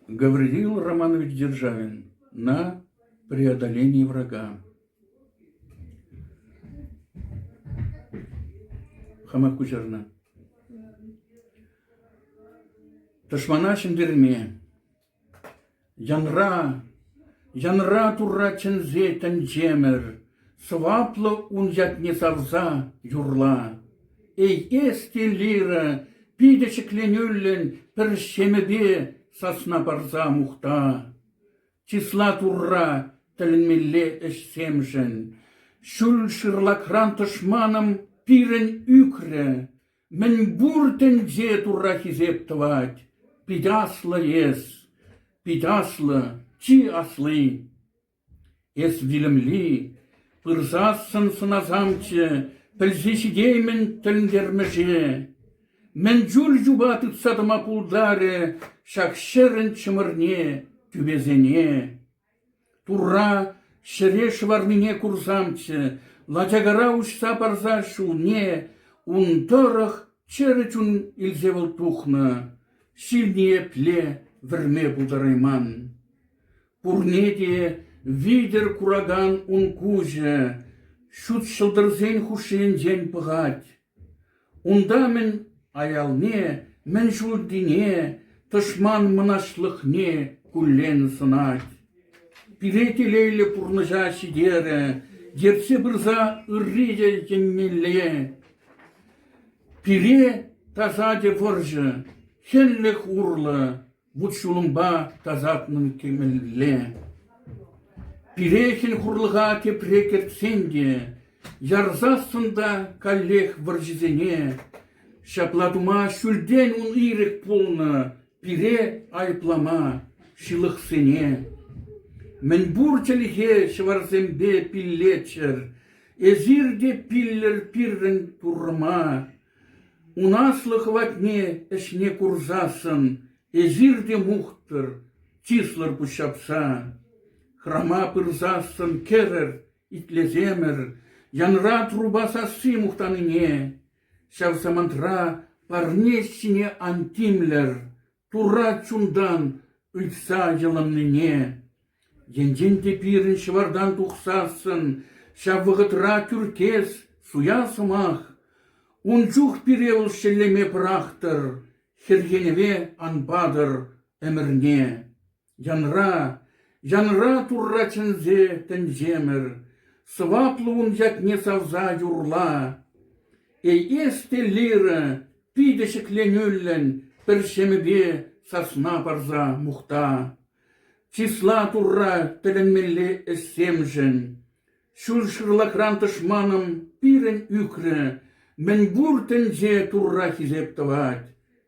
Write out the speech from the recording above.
Гаврилил Романович Державин «На преодоление врага» хама куҫарнӑ. Тӑшмана ҫӗнтерме янра, янра Турра чӗнсе тӗнчемӗр Сӑваплӑ ун ятне сарса юрла. Эй, эс те, лира, питӗ ҫӗкленӳллӗн пӗр ҫемӗпе сасна парса мухта. Чысла Турра тӗлӗнмелле ӗҫсемшӗн. Ҫӳл шырлакран тӑшманӑм пирӗн ӳкрӗ. Мӗн пур тӗнче Турра хисеп тӑвать. Пит аслӑ эс, пит аслӑ, чи асли. Эс вилӗмли, пырсассӑн сӑнасамччӗ, пӗлсе ҫитеймӗн тӗлӗнтермӗше. Мӗн чулӗ чупа тытса тӑма пултарӗ ҫак ҫӗрӗн чӑмӑрне, тӳпесене? Турра ҫӗре шӑварнине курсамччӗ, лачакара уҫса парса ҫулне ун тӑрӑх чӗрӗ чун илсе вӑл тухнӑ, ҫилне епле вӗрме пултарайман! Пурне те витӗр куракан ун куҫӗ ҫут ҫӑлтӑрсен хушшинчен пӑхать. Унта-мӗн аялне, мӗн ҫутине, тӑшман мӑнаҫлӑхне куллен сӑнать. Пире телейлӗ пурнӑҫа ҫитерӗ, ертсе пырса ырри те еннелле. Пире тасатӗ вӑрҫӑ, хӗнлӗх урлӑ, Вут-ҫулӑмпа тасатнӑн кӗмӗлле. Пирехин хурлӑха тепре кӗртсен те ярсассӑн та каллех вӑрҫӑсене. Ҫапла тума ҫӳлтен ун ирӗк пулнӑ пире айӑплама ҫылӑхсене. Мӗнпур чӗлхе ҫӑварсемпе пиллеччӗр, эсир те пиллӗр пирӗн Туррӑма. Ун аслӑ хӑватне ӗҫне курсассӑн эсир те мухтӑр, чыслӑр пуҫҫапса. Храма пырсассӑн кӗрӗр, итлесемӗр, янра труба сасси мухтанине. Ҫав самантра парне ҫине ан тимлӗр, Турра чунтан ыйтса йӑлӑннине, енчен те пирӗн ҫӑвартан тухсассӑн ҫав вӑхӑтра тӳркес, суя сӑмах, ун чух пире вӑл шеллеме пӑрахтӑр, хӗрхенӗве ан патӑр ӗмӗрне. Янра, янра Турра чӗнсе тӗнчемӗр, Сӑваплӑ ун ятне савса юрла. Эй, эс те лирӑ, питӗ ҫӗкленӳллӗн, Пӗр ҫемӗпе сасна парса мухта. Чысла Турра тӗлӗнмелле ӗҫсемшӗн. Ҫул шырлахран тӑшманӑм пирӗн ӳкрӗ, Мӗн пур тӗнче Турра хисеп тӑвать.